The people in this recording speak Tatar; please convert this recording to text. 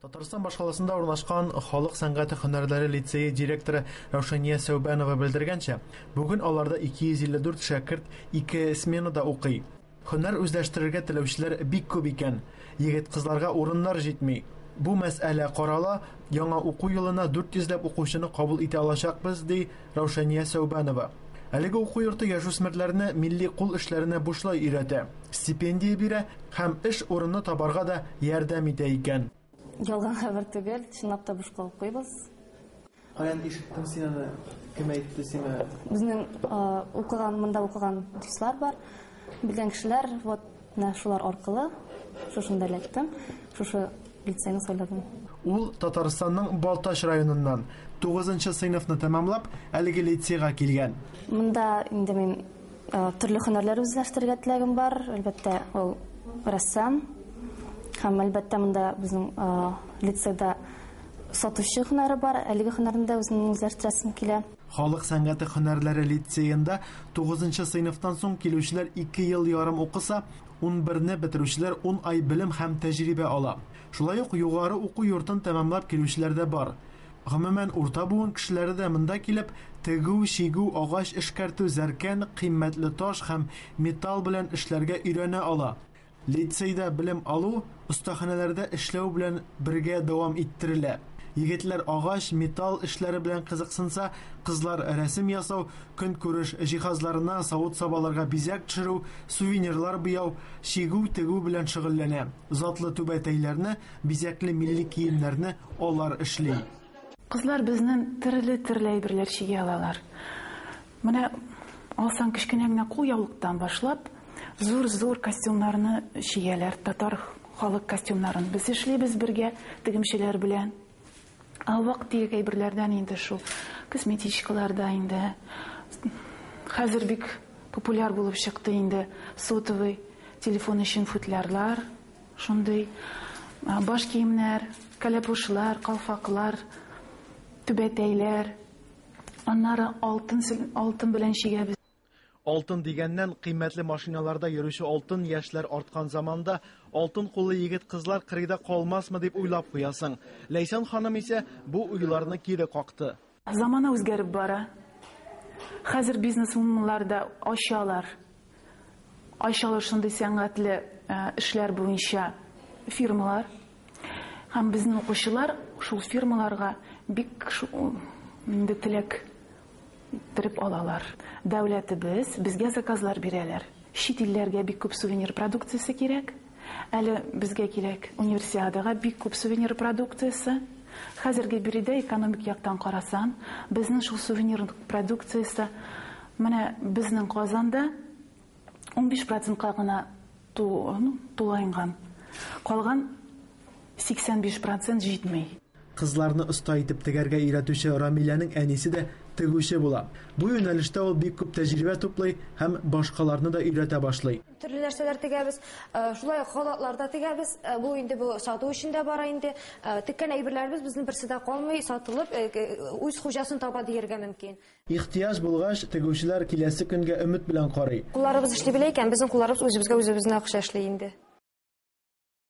Татарстан башкаласында урнашкан халык сәнгате һөнәрләре лицее директоры Раушания Сәүбәнова белдергәнчә, бүген аларда 254 шәкерт ике сменада укый. Һөнәр үзләштерергә теләүчеләр бик күп икән. Егет-кызларга урыннар җитми. Бу мәсьәлә карала, яңа уку елына 400 ләп укучыны кабул итә алачакбыз, ди Раушания Сәүбанова. Әлеге уку йорты яшүсмерләрне милли кул эшләренә бушлай өйрәтә, стипендия бирә һәм эш урыны табарга да ярдәм итә икән. Ялган хәбәр түгел, чынлап та бушка укыйбыз. Каян ишеттең син аны, кем әйтте сиңа? Безнең укыган, монда укыган дуслар бар, белгән кешеләр, вот Менә шулар аркылы шушында эләктем, шушы лицейны сайладым. Ул Татарстанның Балтач районыннан, тугызынчы сыйныфны тәмамлап, әлеге лицейга килгән. Монда инде мин төрле һөнәрләр үзләштерергә теләгем бар, әлбәттә, ул рәссам. Һәм әлбәттә, монда безнең лицейда сатучы һөнәре бар, әлеге һөнәрне дә үземнең үзләштерәсем килә. Халык сәнгате һөнәрләре лицеенда тугызынчы сыйныфтан соң килүчеләр ике ел ярым укыса, унберне бетерүчеләр ун ай белем һәм тәҗрибә ала. Шулай ук югары уку йортын тәмамлап килүчеләр дә бар. Гомумән, урта буын кешеләре дә монда килеп, тегү, чигү, агач эшкәртү, зәркән, кыйммәтле таш һәм металл белән эшләргә өйрәнә ала. Лицейда белем алу остаханәләрдә эшләү белән бергә дәвам иттерелә. Егетләр агач, металл эшләре белән кызыксынса, кызлар рәсем ясау, көнкүреш җиһазларына савыт-сабаларга бизәк төшерү, сувенирлар буяу, чигү, тегү белән шөгыльләнә. Затлы түбәтәйләрне, бизәкле милли киемнәрне алар эшли. Кызлар безнен терле-терле әйберләр чиги алалар. Менә алсаң кечкенә генә кул яулыктан башлап, зур зур костюмнарны чигәләр, татар халык костюмнарын без эшлибез бергә тегемчеләр белән. Ә вак тирек әйберләрдән инде шул косметичкалар да инде хәзер бик популяр булып чыкты инде сотовый телефон өчен футлярлар, шундый баш киемнәр, кәләпүшләр, калфаклар, түбәтәйләр, Аннары алтын алтын белән чигәбез. Алтын дигәннән, кыйммәтле машиналарда йөрүче алтын яшьләр арткан заманда, алтын куллы егет-кызлар кырыйда калмасмы дип уйлап куясың. Ләйсән ханым исә бу уйларны кире какты. Замана үзгәреп бара. Хәзер бизнес-вуменнар да ачалар. Айчаллы шундый сәнгатьле эшләр буенча фирмалар һәм безнең укучылар шул фирмаларга бик инде теләк иттереп алалар. Дәүләтебез безгә заказлар бирәләр. Чит илләргә бик күп сувенир продукциясе кирәк. Әле безгә кирәк Универсиадага бик күп сувенир продукциясе. Хәзерге биредә экономик яктан карасаң, безнең шул сувенир продукциясе менә безнең Казанда унбиш процентка гына тулаенган. Калган сиксән биш процент җитми. Кызларны оста итеп тегәргә өйрәтүче Рамиләнең әнисе дә тегүче була. Бу юнәлештә ул бик күп тәҗрибә туплый һәм башкаларны да өйрәтә башлый. Төрле нәрсәләр тегәбез. Шулай ук халатлар да тегәбез. Бу инде бу сату өчен дә бара инде. Теккән әйберләребез безнең берсе дә калмый, сатылып, үз хуҗасын таба диергә мөмкин. Ихтыяҗ булгач, тегүчеләр киләсе көнгә өмет белән карый. Кулларыбыз эшли белә икән, безнең кулларыбыз үзебезгә үзебезнең акча эшли инде.